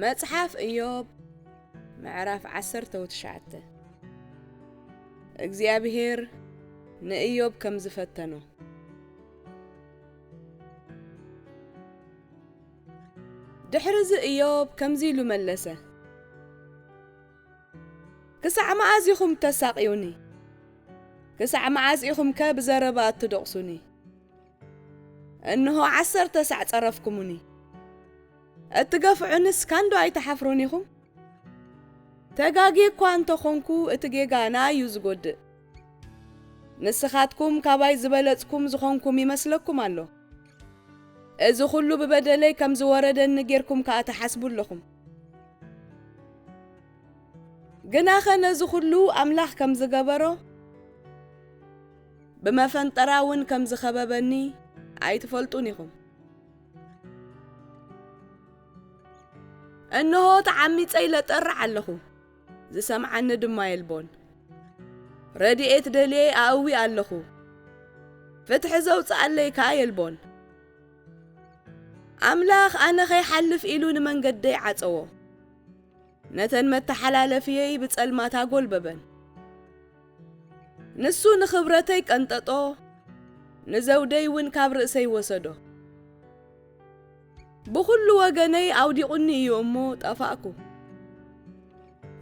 መጽሓፍ እዮብ ምዕራፍ ዓሰርተ ወትሽዓተ እግዚኣብሔር ንእዮብ ከም ዝፈተኖ ድሕሪ እዚ እዮብ ከምዚ ኢሉ መለሰ ክሳዕ መኣዝ ኢኹም እተሳቕዩኒ? ክሳዕ መኣዝ ኢኹምከ ብዘረባ እትደቝሱኒ? እንሆ፣ ዓሰርተ ሳዕ ጸረፍኩሙኒ፣ እትገፍዑንስ ካንዶ ኣይትሓፍሩን ኢኹም? ተጋግየ እኳ እንተ ዀንኩ፣ እቲ ጌጋ ንኣይ እዩ ዚጐድእ። ንስኻትኩም ካባይ ዝበለጽኩም ዝዀንኩም ይመስለኩም ኣሎ። እዚ ዅሉ ብበደለይ ከም ዝወረደኒ ጌርኩም ከኣ ትሓስቡ ኣለኹም። ግናኸ ነዚ ዅሉ ኣምላኽ ከም ዝገበሮ፣ ብመፈንጠራ እውን ከም ዝኸበበኒ ኣይትፈልጡን ኢኹም። እንሆ ተዓሚጸ ኢለ እጠርዕ ኣለኹ፣ ዝሰምዓኒ ድማ የልቦን። ረድኤት ደልየ ኣእዊ ኣለኹ፣ ፍትሒ ዘውጽኣለይ ከኣ የልቦን። ኣምላኽ ኣነ ኸይሓልፍ ኢሉ ንመንገደይ ዓጸዎ፣ ነተን መተሓላለፍየይ ብጸልማት ኣጐልበበን። ንሱ ንኽብረተይ ቀንጠጦ፣ ንዘውደይ እውን ካብ ርእሰይ ወሰዶ። ብዅሉ ወገነይ ኣውዲቑኒ እዩ እሞ ጠፋእኩ።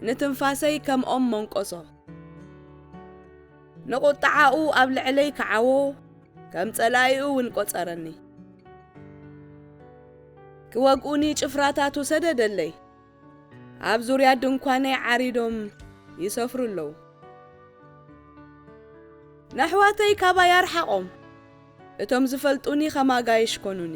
ንትንፋሰይ ከም ኦም መንቈሶ። ንቝጥዓኡ ኣብ ልዕለይ ከዓዎ፣ ከም ጸላኢኡ ውን ቈጸረኒ። ክወግኡኒ ጭፍራታቱ ሰደደለይ፣ ኣብ ዙርያ ድንኳነይ ዓሪዶም ይሰፍሩ ኣለዉ። ነሕዋተይ ካባይ ኣርሓቖም፣ እቶም ዝፈልጡኒ ኸም ኣጋይሽ ኰኑኒ።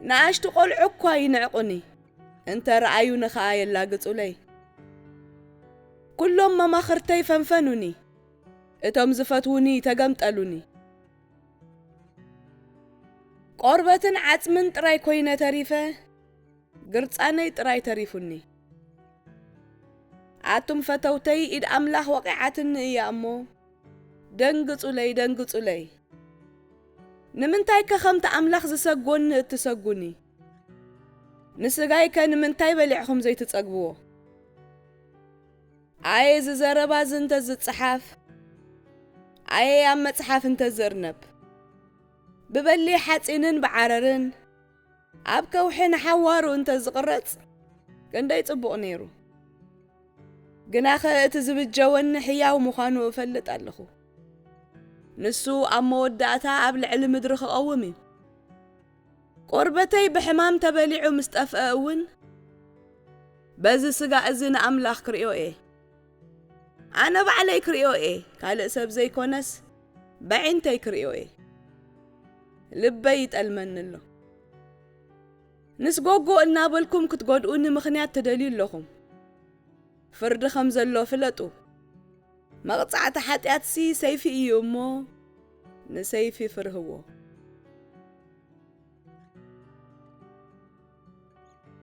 ንኣሽቱ ቈልዑ እኳ ይንዕቁኒ፣ እንተ ረኣዩኒ ኸኣ የላግጹለይ። ኵሎም መማኽርተይ ፈንፈኑኒ፣ እቶም ዝፈትዉኒ ተገምጠሉኒ። ቈርበትን ዓጽምን ጥራይ ኰይነ ተሪፈ፣ ግርጻነይ ጥራይ ተሪፉኒ። ኣቱም ፈተውተይ፣ ኢድ ኣምላኽ ወቒዓትኒ እያ እሞ፣ ደንግጹለይ፣ ደንግጹለይ። ንምንታይከ ከምቲ ኣምላኽ ዝሰጎኒ እትሰጉኒ? ንስጋይከ ንምንታይ በሊዕኩም ዘይትጸግብዎ? ኣየ እዚ ዘረባ እዚ እንተ ዝጸሓፍ፣ ኣየ ኣብ መጽሓፍ እንተ ዝእርነብ! ብበሊሕ ሓጺንን ብዓረርን፣ ኣብ ከውሒ ንሓዋሩ እንተ ዝቕረጽ ክንደይ ጽቡቕ ነይሩ! ግናኸ እቲ ዝብጀወኒ ሕያው ምዃኑ እፈልጥ ኣለኹ። ንሱ ኣብ መወዳእታ ኣብ ልዕሊ ምድሪ ክቐውም እዩ። ቆርበተይ ብሕማም ተበሊዑ ምስ ጠፍአ እውን በዚ ስጋ እዚ ንኣምላኽ ክርእዮ እየ። ኣነ ባዕለይ ክርእዮ እየ ካልእ ሰብ ዘይኮነስ በዒንተይ ክርእዮ እየ ልበይ ይጠልመኒ ኣሎ። ምስ ጎጎ እናበልኩም ክትጎድኡኒ ምኽንያት ትደልዩ ኣለኹም። ፍርዲ ከም ዘሎ ፍለጡ። መቕጻዕቲ ሓጢኣትሲ ሰይፊ እዩ እሞ ንሰይፊ ፍርህዎ።